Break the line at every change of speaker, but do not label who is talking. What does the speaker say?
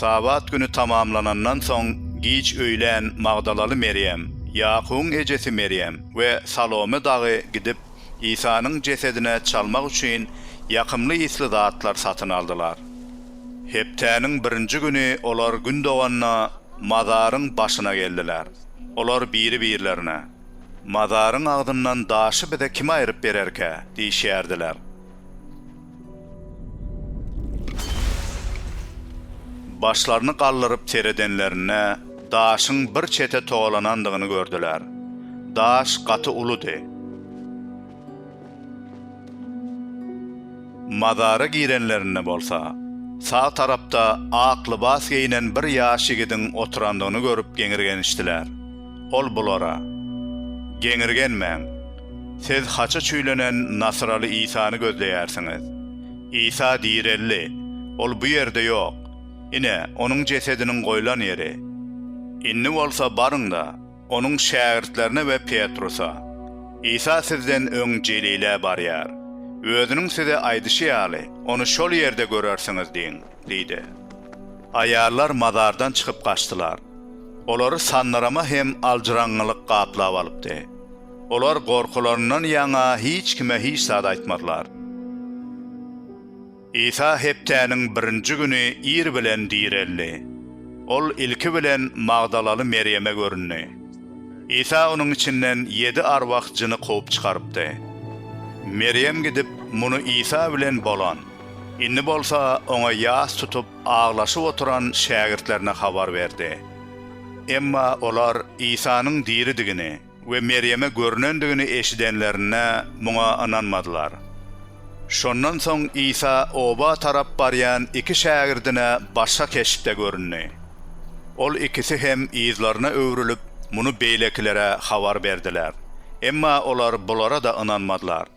Sabat güni tamamlanandan soň, giç öýlän magdalaly Merýem, Ýakubyň ejesi Merýem we Salome dagy gidip, Isanyň jesedine çalmak üçin ýakymly ysly zatlar satyn aldylar. Hepdäniň birinji güni olar gün doganda mazaryň başyna geldiler. Olar biri-birlerine, Mazaryň agzyndan daşy bize kim aýryp bererkä? diýişýärdiler. Başlaryny galdyryp seredenlerinde, daşyň bir çete togalanandygyny gördüler. Daş gaty uludy. Mazara girenlerinde bolsa, sag tarapda ak lybas geýnen bir ýaş ýigidiň oturandygyny görüp geňirgenişdiler. Ol bulara, Geňirgenmäň! Siz haça çüýlenen nasyraly Isany gözleýärsiňiz. Isa direldi. Ol bu ýerde ýok. Ine, onuň jesediniň goýlan ýeri. Indi bolsa baryň-da, onuň şägirtlerine we Petrusa, Isa sizden öň Jelile barýar. Özüniň size aýdyşy ýaly, ony şol ýerde görersiňiz diýiň. diýdi. Aýallar mazardan çykyp gaçdylar. Olary sandyryma hem aljyraňňylyk gaplap alypdy. Olar gorkularyndan ýaňa hiç kime hiç zat aýtmadylar. Isa hepdäniň birinji güni ir bilen direldi. Ol ilki bilen magdalaly Merýeme göründi. Isa onuň içinden ýedi arwah jyny kowup çykarypdy. Merýem gidip, muny Isa bilen bolan. Indi bolsa oňa ýas tutup aglaşyp oturan şägirtlerine habar berdi. Emma olar Isanyň diridigini we Merýeme görnendigini eşidenlerinde muňa ynanmadylar. Şondan soň Isa oba tarap barýan iki şägirdine başga keşpde göründi. Ol ikisi hem yzlaryna öwrülip, muny beýlekilere habar berdiler. Emma olar bulara-da ynanmadylar.